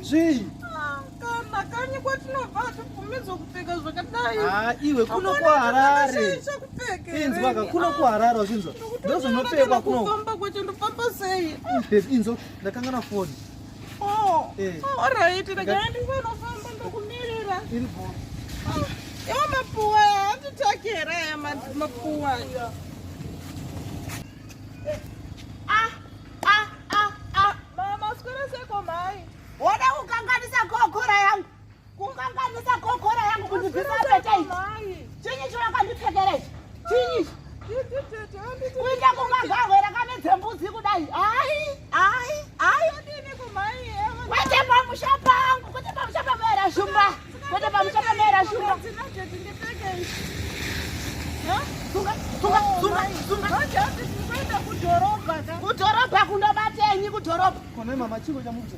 Zvii? Kana kanyi kwatinobva hatibvumidzwa kupfeka zvakadai. Ah, iwe kuno kuHarare. Inzwa ka kuno kuHarare wazvinzwa. Ndozvinopfekwa kuno. Ndofamba kwacho ndofamba sei? Inzwa ndakangana foni. Oh, eh. oh, alright, regai ndisanofamba ndokumirira. Iripo. Ah, iwo mapuwa handitaki here aya mapuwa. Eh. Ah, ah, ah, ah. Mama, sikore seko mai. Woda kukanganisa kokora yangu. Kukanganisa kokora yangu kundibvisa appetite. Chinyi chawakandipfekera ichi? Chinyi ichi? Kuita kungagahwe rakamedza mbudzi kudai. Hayi, hayi, hayi. Kwete pamusha pangu, kwete pamusha pangu era shumba. Kwete pamusha pangu era shumba. Sunga, sunga, sunga, sunga. Kudhorobha kundobatenyi kudhorobha? Kone mama chiko chamukucha.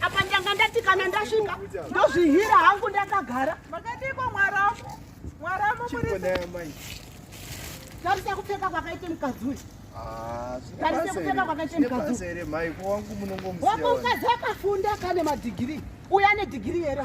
apa ndanga ndati kana ndasvika ndozvihira hangu ndakagara makadiko mwaramu mwaramu muri tarisa kupfeka kwakaita mukadzi uyu tarisa kupfeka kwakaita mukadzi uyu wangu mukadzi akafunda kane madhigirii uya nedhigirii here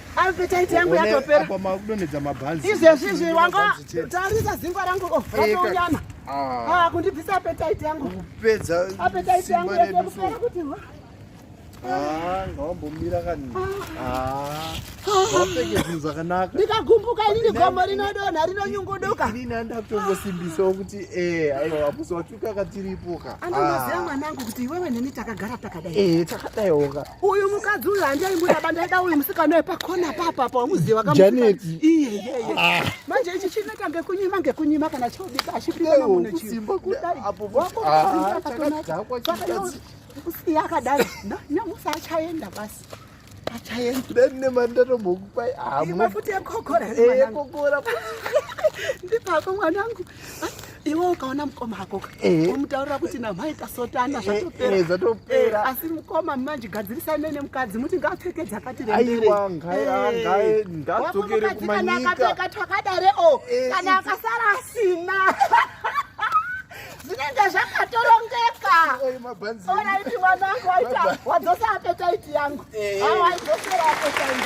Appetite yangu yatopera. Apa makudonedza mabhanzi. Izvezvi izvi wanga tarisa zingwa rangu oh ratonyana. Ah, ah kundibvisa appetite yangu. Kupedza appetite yangu yakupera kuti wa. Ah, ngawambomira kani. Ah. ah. Wapfeke zvinhu zvakanaka. Ndikagumbuka ini gomo rinodonha rinonyunguduka. Ini ndandakutongosimbisa kuti eh aiwa apusi kaka tiripo ka andoziva ah. mwanangu kuti iwewe neni takagara takadai eh takadaiwo ka uyu mukadzi uyu handaimbuda bandaida uyu musikana wepakona papa pa umuziva kama Janet iye iye ah. manje ichi chinoita ngekunyima ngekunyima kana chobika achipika na munhu chiyo simba kudai apo wako ah, chakadakwa chakadakwa kusiya akadai nyamusa achaenda basi Achaendura ne mandaro boku pai amu. Ima futi ekokora. Eh ekokora. Ndipako mwanangu. Iwe ukaona mukoma hako ka. Eh. Umutaura kuti na mai tasotana eh, zvatopera. Eh zvatopera. Eh, asi mukoma manje gadzirisa ne ne mukadzi muti ngapfeke dzakati rendere. Aiwa ngai ngai ngadzokere kumanyika. Kana akapfeka twakadare o. Kana akasara asina. zvinenge zvakatorongeka ona iti mwana wangu waita wadzosa apetaiti yangu eh. awaidosera apetaiti